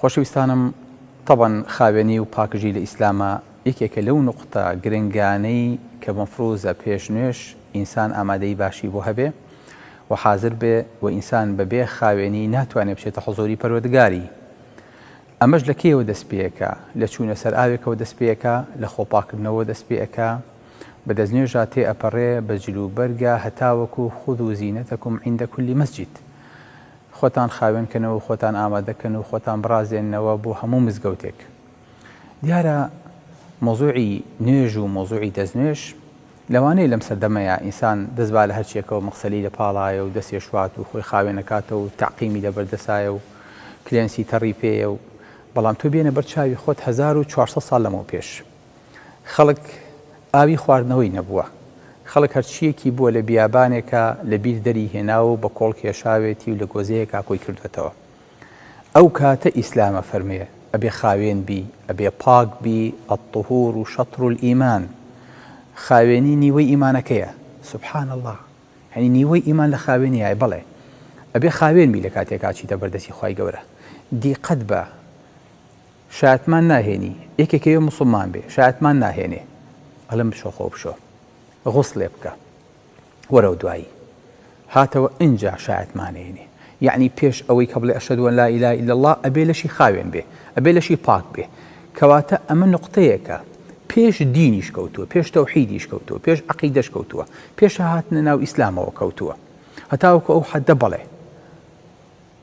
خۆشەویستانم تەبەن خاوێنی و پاکژی لە ئیسلامە یەکێکە لەو نقطە گرنگانەی کە مەفروزە پێش نوێش ئینسان ئامادەی باشی بۆ هەبێ و حازر بێ و ئینسان بەبێ خاوێنی ناتوانێت بچێتە حزۆری پەروەردگاری ئەمەش لە کێوە دەست پێەکە لە چوونە سەر ئاوێکەوە دەست پێەکە لە خۆپاکردنەوە دەست پێەکە بە دەستنوێژا تێ ئەپەڕێ بە جلو بەرگە هەتاوەکو خود و زیینەتەکم عیندە کولی مەسجد خۆتان خاوێن کەنەوە و خۆتان ئامادە کەن و خۆتان بڕازێننەوە بۆ هەموو مزگەوتێک. دیارە مەوزوعی نوێژ و مەوزوعی دەستنوێژ لەوانەیە لەم سەردەمەیا ئینسان دەست با لە هەرچیەکەوە مەغسەلی لە پاڵایە و دەستێ شوات و خۆی خاوێن ئەکاتەوە و تەعقیمی لە بەر دەسایە و کلێنسی تەڕی پێیە و بەڵام تۆ بێنە بەر چاوی خۆت هەزار و چوار سەد ساڵ لەمەو پێش خەڵک ئاوی خواردنەوەی نەبووە، خەڵک هەرچییەکی بووە لە بیابانێکا لە بیر دەری هێناوە و بە کۆڵ کێشاوێتی و لە گۆزەیەکا کۆی کردووەتەوە. ئەو کاتە ئیسلام ئەفەرموێ، ئەبێ خاوێن بی، ئەبێ پاک بی، الطهور شطر الایمان، خاوێنی نیوەی ئیمانەکەیە. سبحان اللە! یانی نیوەی ئیمان لە خاوێنیایە، بەڵێ ئەبێ خاوێن بی لە کاتێکا چیتە بەر دەستی خوای گەورە. دیقەت بە! شایەتمان ناهێنی یەکێک ئەوێ موسڵمان بێ شایەتمان ناهێنێ ئەڵێم بچۆ خۆ بشۆ غوسلێ بکە وەرەو دوایی هاتەوە ئینجا شایەتمانێنێ یعنی پێش ئەوەی کە بڵێ ئەشهد وەن لا ئیلا الا الله ئەبێ لەشی خاوێن بێ ئەبێ لەشی پاک بێ کەواتە ئەمە نقطەیەکە پێش دینیش کەوتووە پێش تەوحیدیش کەوتووە پێش عقیدەش کەوتووە پێش هاتنە ناو ئیسلامەوە کەوتووە هەتاوەکو ئەو حەدە بەڵێ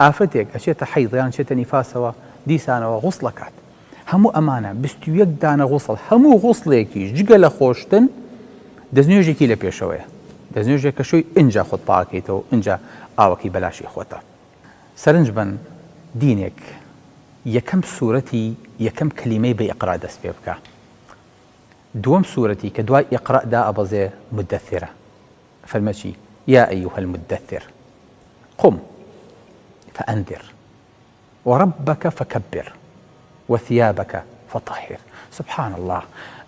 ئافرەتێک ئەچێتە حەیز یان چێتە نیفاسەوە دیسانەوە غوسڵ ئەکات هەموو ئەمانە بیست و یەک دانە غوسڵ هەموو غوسڵێکیش جگە لە خۆشتن دەستنوێژێکی لە پێشەوەیە دەستنوێژێک کە شوی ئینجا خۆت پاکەیتەوە ئینجا ئاوەکەی بەلاشی خۆتە سەرنج بن دینێک یەکەم سوورەتی یەکەم کلیمەی بە ئیقرا دەست پێ بکە دووەم سوورەتی کە دوای ئیقرا دا ئەبەزێ مدەثرە فەرمە چی؟ یا ایها المدثر قم فانذر وربک فکبر وثیابک فطهر سبحان اللە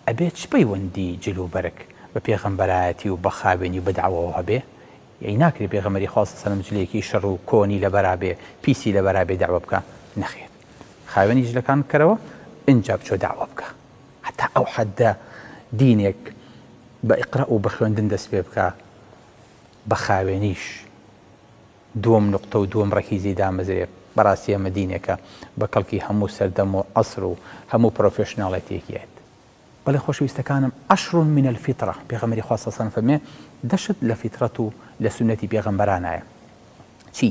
ئەبێ چ پەیوەندی جل و بەرگ بە پێغەمبەرایەتی و بە خاوێنی و بە دەعوەوە هەبێ؟ یەی ناکرێ پێغەمبەری خوا صلی سەلم جلێکی شڕ و کۆنی لەبەرا بێ پیسی لەبەرا بێ دەعوە بکا؟ نەخێر خاوێنی جلەکان بکەرەوە ئینجا بچۆ دەعوە بکە هەتا ئەو حەددە دینێک بە اقرا و بە خوێندن دەست پێ بکە بە خاوێنیش دووەم نوقتە و دووەم ڕەکیزەی دامەزرێ بەڕاستی ئەمە دینێکە بە کەڵکی هەموو سەردەم و عەسر و هەموو پرۆفێشناڵێتیەکیەت بەڵێ خۆشەویستەکانم عشر من الفطرە پێغەمبەری خوا صلی اللە علیە و سلم فەرمێ دەشت لە فیتڕەت و لە سوننەتی پێغەمبەرانایە چی؟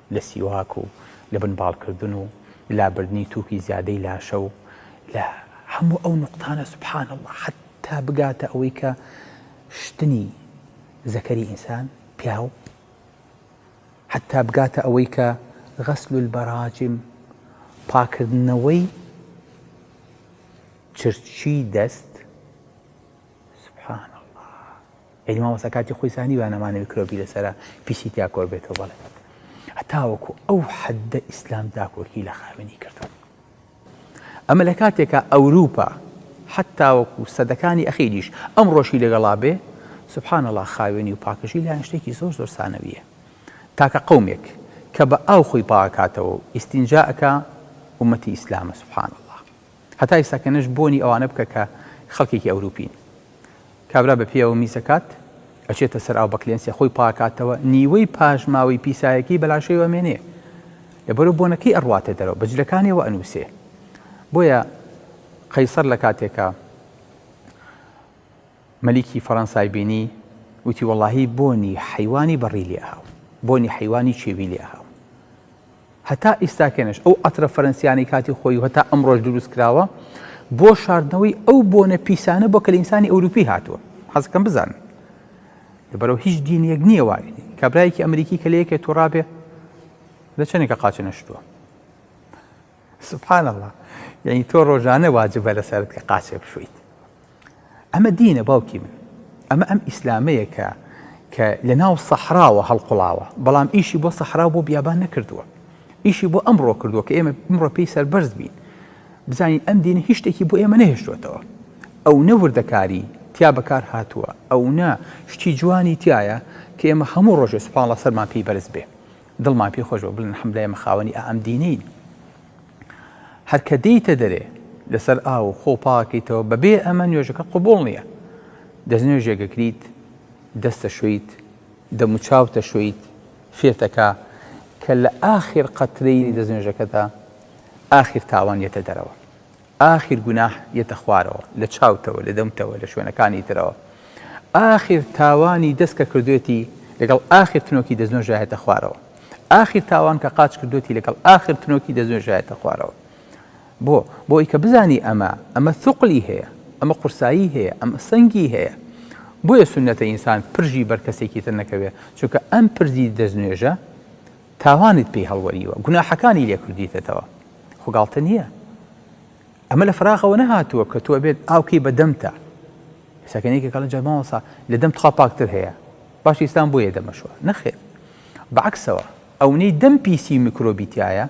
لە سیواک و لە بنباڵکردن و لابردنی تووکی زیادەی لاشە و لە هەموو ئەو نوقتانە سبحان اللە حەتتا بگاتە ئەوەی کە شتنی زەکەری ئینسان، پیاو، حەتتا بگاتە ئەوەی کە غسل البراجم پاکردنەوەی چرچی دەست، سبحان اللە. یانی مامۆستا کاتی خۆی زانی با نەمانە میکرۆبی لەسەرا پیسی تیا کۆ بێتەوە بەڵێ هەتاوەکو ئەو حەددە ئیسلام داکۆکی لە خاوێنی کردوە ئەمە لە کاتێکا ئەوروپا حتاوەکو سەدەکانی ئەخیریش ئەم ڕۆژی لەگەڵا بێ سبحان الله خاوێنی و پاکژی لایەن شتێکی زۆر زۆر سانەویە تاکە قومێک کە بە ئاو خۆی پاکاتەوە و ئیسینجاکە ومەتی ئیسلامە سبحان الله هەتای سەکەنەش بۆنی ئەوانە بکە کە خەڵکێکی ئەوروپین کابرا بە پێیەوە میز ئەکات، ئەچێتە سەر ئاو بە کلێنسێ خۆی پاکاتەوە، نیوەی پاشماوەی پیسایەکیی بە لاشەیەوە ئەمێنێ. لەبەرو بۆنەکەی ئەڕواتە دەرەوە، بە جلەکانیەوە ئەنووسێ. بۆیە قەیسەر لە کاتێکا مەلیکی فەرەنسای بینی، وتی وەڵاهی بۆنی حەیوانی بەڕی لێ ئەهاو، بۆنی حەیوانی چێوی لێ ئەهاو. هەتا ئیستاکەنش ئەو عەترە فەرەنسیانەی کاتی خۆی و هەتا ئەمڕۆش دروست کراوە بۆ شاردنەوەی ئەو بۆنە پیسانە بۆ کە لە ئینسانی ئەوروپی هاتووە حەزەکەم بزانن لەبەرەوە هیچ دینیەک نییە وای کابرایەکی ئەمریکی کە لە یەکێ تۆڕابێ لە چەندێکە قاچە نەشتووە سبحان الله یعنی تۆ ڕۆژانە واجبە لەسەرت کە قاچێ بشویت ئەمە دینە باوکی من. ئەمە ئەم ئیسلامەیە کە کە لە ناو سەحراوە هەڵقوڵاوە، بەڵام ئیشی بۆ سەحراو بۆ بیابان نەکردووە. ئیشی بۆ ئەمڕۆ کردووە کە ئێمە ئمڕۆ پێی سەربەرز بین. بزانین ئەم دینە هیچ شتێکی بۆ ئێمە نەهێشتووەتەوە. ئەونە وردەکاری تیا بەکار هاتووە، ئەونە شتی جوانی تیایە کە ئێمە هەموو ڕۆژێ سبحان اللە سەرمان پێی بەرز بێ. دڵمان پێی خۆش بێ و بڵێن الحمدللە ئێمە خاوەنی ئائەم دینەین. هەر کە دێیتە دەرێ لەسەر ئاو و خۆ پاکەیتەوە بەبێ ئەمە نوێژەکە قبوڵ نییە دەستنوێژێکەکریت دەستە شویت دەموچاوتە شویت فێتەکە کە لە ئاخر قەترەیلی دەستنوێژەکەدا ئاخر تاوان یەتە دەرەوە ئاخر گوناح یەتە خوارەوە لە چاوتەوە لە دەمتەوە لە شوێنەکانی ترەوە ئاخر تاوانی دەست کە کردوێتی لەگەڵ ئاخر تنۆکی دەستنۆ ژایەتە خوارەوە ئاخر تاوان کە قاچ کردوێتی لەگەڵ ئاخر تنۆکی دەستنۆ ژایەتە خوارەوە بۆ بۆ ئەی کە بزانی ئەمە ئەمە ثقلی هەیە ئەمە قورسایی هەیە ئەمە سەنگی هەیە بۆیە سنەتە ئینسان پرژی بەر کەسێکی تر نەکەوێت چونکە ئەم پرزی دەستنوێژە تاوانت پێی هەڵوەریوە گوناحەکانی لێ کردویتەتەوە خۆ گاڵتە نیە ئەمە لە فراغەوە نەهاتووە کە تۆ ئەبێت ئاو کەی بە دەمتا سەکەنێکی کەڵە جەرمان وەسا لە دەم تخوا پاکتر هەیە باش ئیسلام بۆیە دەمەشوە نەخێر بەعکسەوە ئەونەی دەم پیسی و میکرۆبیتایە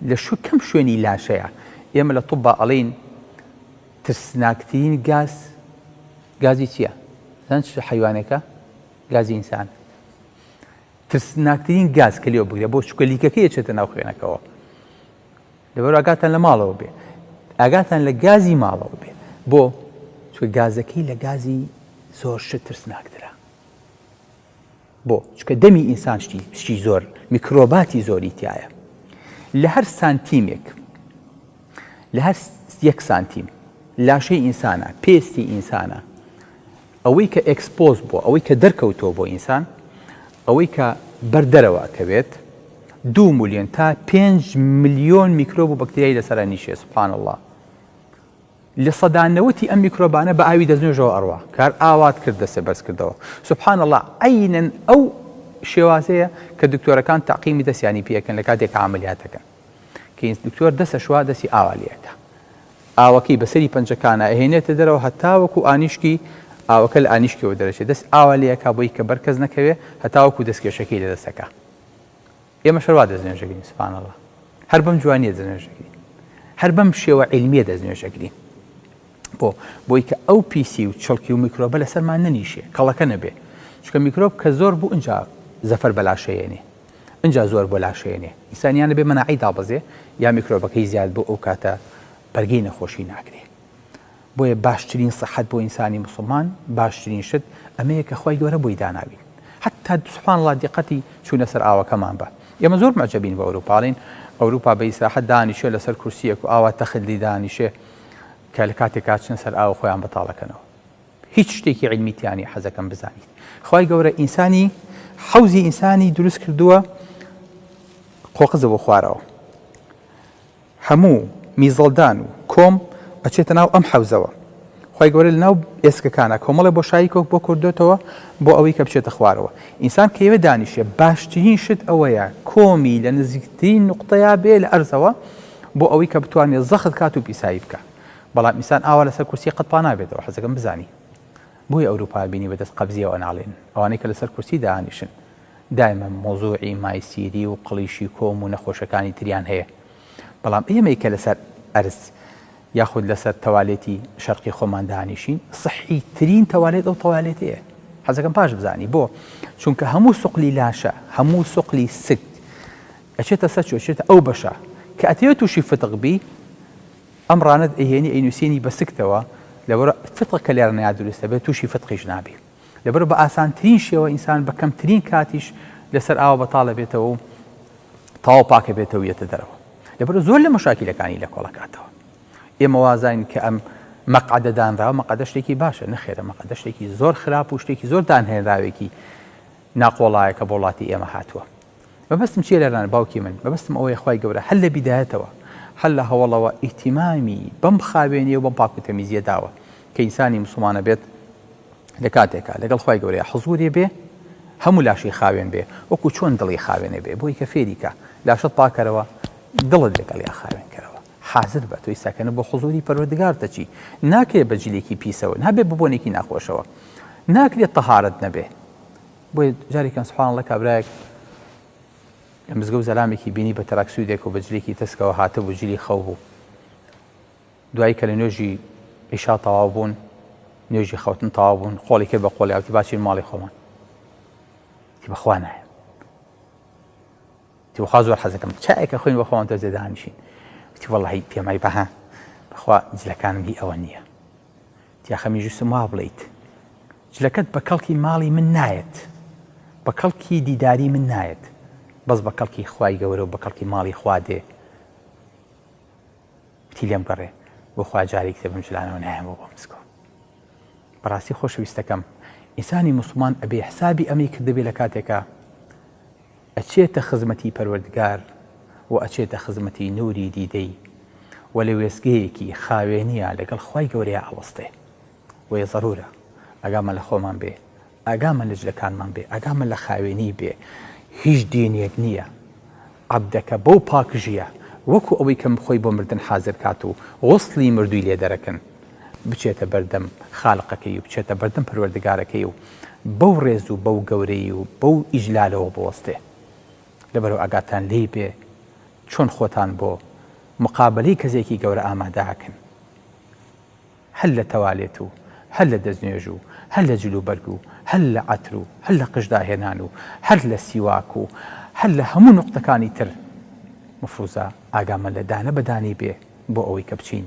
لە شو کەم شوێنی لاشەیە ئێمە لە طبا ئەڵین ترسناکترین گاز گازی چییە؟ زان چ حیوانێکە؟ گازی ئینسان ترسناکترین گاز کە لێو بگرە بۆ چکە لیکەکە یەچێتە ناو خوێنەکەەوە لەبەر ئاگاتان لە ماڵەوە بێ ئاگاتان لە گازی ماڵەوە بێ بۆ چکە گازەکەی لە گازی زۆر شت ترسناکترە بۆ چکە دەمی ئینسان شتی شتی زۆر میکرۆباتی زۆری تایە لە هەر سانتیمێک لە هەر یەک سانتیم لاشەی ئینسانە پێستی ئینسانە ئەوەی کە ئێکسپۆز بووە، ئەوەی کە دەرکەوتووە بۆ ئینسان، ئەوەی کە بەر دەرەوە ئەکەوێت، دوو ملیۆن تا پێنج ملیۆن میکرۆب و بەکتریای لەسەر ئەنیشێ سبحان اللە. لە سەدا نەوەتی ئەم میکرۆبانە بە ئاوی دەستنوێژەوە ئەڕوا، کار ئاوات کرد دەستێ بەرز کردەوە. سبحان اللە عەینەن ئەو شێوازەیە کە دکتۆرەکان تەعقیمی دەستیانی پێ ئەکەن لە کاتێک عەمەلیات ئەکەن. کەینس دکتۆر دەست ئەشوا دەستی ئاوا لێ ئەکا ئاوەکەی بەسەری پەنجەکانە ئەهێنێتە دەرەوە هەتاوەکو ئانیشکی ئاوەکە لە ئانیشکەوە دەرەچێت دەست ئاوا لێ ئەکا بۆی کە بەرکەس نەکەوێ هەتاوەکو دەستکێشەکەی لە دەستەکە ئێمە شەروا دەستنوێژەگرین سوبحانەڵڵا هەر بەم جوانیە دەستنوێژەگرین هەر بەم شێوە عیلمیە دەستنوێژەگرین بۆ بۆی کە ئەو پیسی و چڵکی و میکرۆبە لەسەرمان نەنیشێ کەڵەکە نەبێ چکە میکرۆب کە زۆر بوو ئەجا زەفەر بەلاشەیەنێ ئنجا زۆر بۆ لاشێنێ ئینسانیانە بێ مەناعەی دابەزێ یا میکرۆبەکەی زیاد بۆ ئەو کاتە بەرگەی نەخۆشی ناگرێ بۆیە باشترین سەحەت بۆ ئینسانی مسلمان باشترین شت ئەمەیە کە خی گەورە بۆی داناوین حتا سوپان الله دیقەتی چوونە سەر ئاوەکەمان بە ئێمە زۆر مەجەبین بە ئەوروپاڵین ئەوروپا بە ئیسراحەت دانیشێ لەسەر کورسیەک و ئاوا تەخلی دانیشێ کە لە کاتێک کاچن سەر ئاو خۆیان بەتاڵەکەنەوە هیچ شتێکی علمی تیانە حەزەکەم بزانیت خی گەورە ئینسانی حوزی ئینسانی دروست کردووە قۆقزە بۆ خوارەوە هەموو میزەڵدان و کۆم ئەچێتە ناو ئەم حەوزەوە خی گەورە لە ناو ئێسکەکانە کۆمەڵی بۆ شایی کۆک بۆ کوردێتەوە بۆ ئەوەی کە بچێتە خوارەوە ئینسان کەوێ دانیشێ باشترین شت ئەوەیە کۆمی لە نزیکترین نقطەیە بێ لە ئەرزەوە بۆ ئەوەی کە بتوانێت زەخت کات و پیسایی بکە بەڵام ئینسان ئاوا لەسەر کورسی قەت پانابێتەوە حەزەکەم بزانی بۆی ئەوروپا بینی بەدەست قەبزیەوە ناڵێن ئەوانەی کە لەسەر کورسی دانیشن دایمە مۆزوعی مایسیری و قڵیشی کۆم و نەخۆشەکانی تریان هەیە بەڵام ئێمەی کە لەسەر ئەرز یاخود لەسەر تەوالێتی شەرقی خۆمان دانیشین سەحی ترین تەوالێت ئەو تەوالێتەیە حەزەکەم پاش بزانی بۆ چونکە هەموو سوقلی لاشە هەموو سوقلی سک ئەچێتە سەر چێتە ئەو بەشە کە ئەتەوێت تووشی فتق بی ئەم ڕانەت ئەیهێنی ئەینوسێنی بە سکتەوە لەبەر فتقە کە لێڕ نەیا دروستە بێت توشی فتقیش نابی لەبەر بە ئاسانترین شێوە ئینسان بە کەمترین کاتیش لەسەر ئاوە بەتاڵە بێتەوە و تاو پاکە بێتەوە یەتە دەرەوە لەبەر زۆر لە مەشاکیلەکانی لە کۆڵەکاتەوە ئێمە وازین کە ئەم مەقعدە دانراوە مەقەدە شتێکی باشە نەخێرە مەقەدە شتێکی زۆر خراپ و شتێکی زۆر دانهێنراوێکی ناقۆڵایەکە بۆڵاتی ئێمە هاتووە مەبەستم چیە لەلان باوکی من مەبەستم ئەوەیە خوای گەورە هەر لە بیدایەتەوە هەر لە هەوەڵەوە ئیهتیمامی بەم خاوێنی و بەم پاک و تەمیزیە داوە کە ئینسانی موسڵمان ئەبێت لە کاتێکا لەگەڵ خوای گەورەیا حزوری بێ هەموو لاشەی خاوێن بێ وەکو چۆن دڵی خاوێنێ بێ بۆی کە فێریکە لاشەت پاکەرەوە دڵت لەگەڵیا خاوێن کەرەوە حازر بە تۆی سەکەنە بۆ حزوری پەروەردگارتە چی ناکرێت بە جلێکی پیسەوە نابێت ببوونێکی ناخۆشەوە ناکرێت تەهارت نەبێ بۆیە جاریکەن سبحان اللە کابرایەک لە مزگە و زەلامێکی بینی بە تەراکسویدێک و بە جلێکی تەسکەوە هاتبوو جلی خەو بوو دوایی کە لە نوێژی ئیشا تەواو بوون نوێژی خەوتن تەواو بوون خۆڵی کرد بە خۆڵیاوتی باچین ماڵی خۆمان بەخوا نایە وتی بەخوا زۆر حەزەکەم چایەک ئەخۆین بەخوا ئەوەندە جێ دانیشین وتی وەڵڵاهی پێم وای بەها بەخوا جلەکانم هی ئەوە نییە وتی ئاخە میژوستم وا بڵێیت جلەکەت بە کەڵکی ماڵی من نایەت بە کەڵکی دیداری من نایەت بەس بە کەڵکی خوای گەورە و بە کەڵکی ماڵی خوا دێ وتی لێم گەڕێ بۆ خوا جارێک تێ بم جلانەوە نایەمەوە بۆ مسکۆ بەڕاستی خۆشەویستەکەم ئینسانی مسلمان ئەبێ حسابی ئەمەی کردبێ لە کاتێکە ئەچێتە خزمەتی پەروەردگار و ئەچێتە خزمەتی نوری دیدەی و لە وێستگەیەکی خاوێنیا لەگەڵ خوای گەورەیا ئەوەستێ بۆیە زەرورە ئاگامان لە خۆمان بێ ئاگامان لە جلەکانمان بێ ئاگامان لە خاوێنی بێ هیچ دینێک نییە عەبدەکە بەو پاکژیە وەکو ئەوەی کەم خۆی بۆ مردن حازر کات و غوسڵی مردووی لێ دەرەکن بچێتە بەردەم خالقەکەی و بچێتە بەردەم پەروەردگارەکەی و بەو ڕێز و بەو گەورەی و بەو ئیجلالەوە بوەستێ لەبەرو ئاگاتان لێی بێ چۆن خۆتان بۆ مقابەلەی کەسێکی گەورە ئامادەئەکەن هەر لە تەوالێت و هەر لە دەستنوێژ و هەر لە جل و بەرگ و هەر لە عەتر و هەر لە قژداهێنان و هەر لە سیواک و هەر لە هەموو نوقتەکانی تر مفروزە ئاگامان لە دانە بەدانی بێ بۆ ئەوەی کە بچین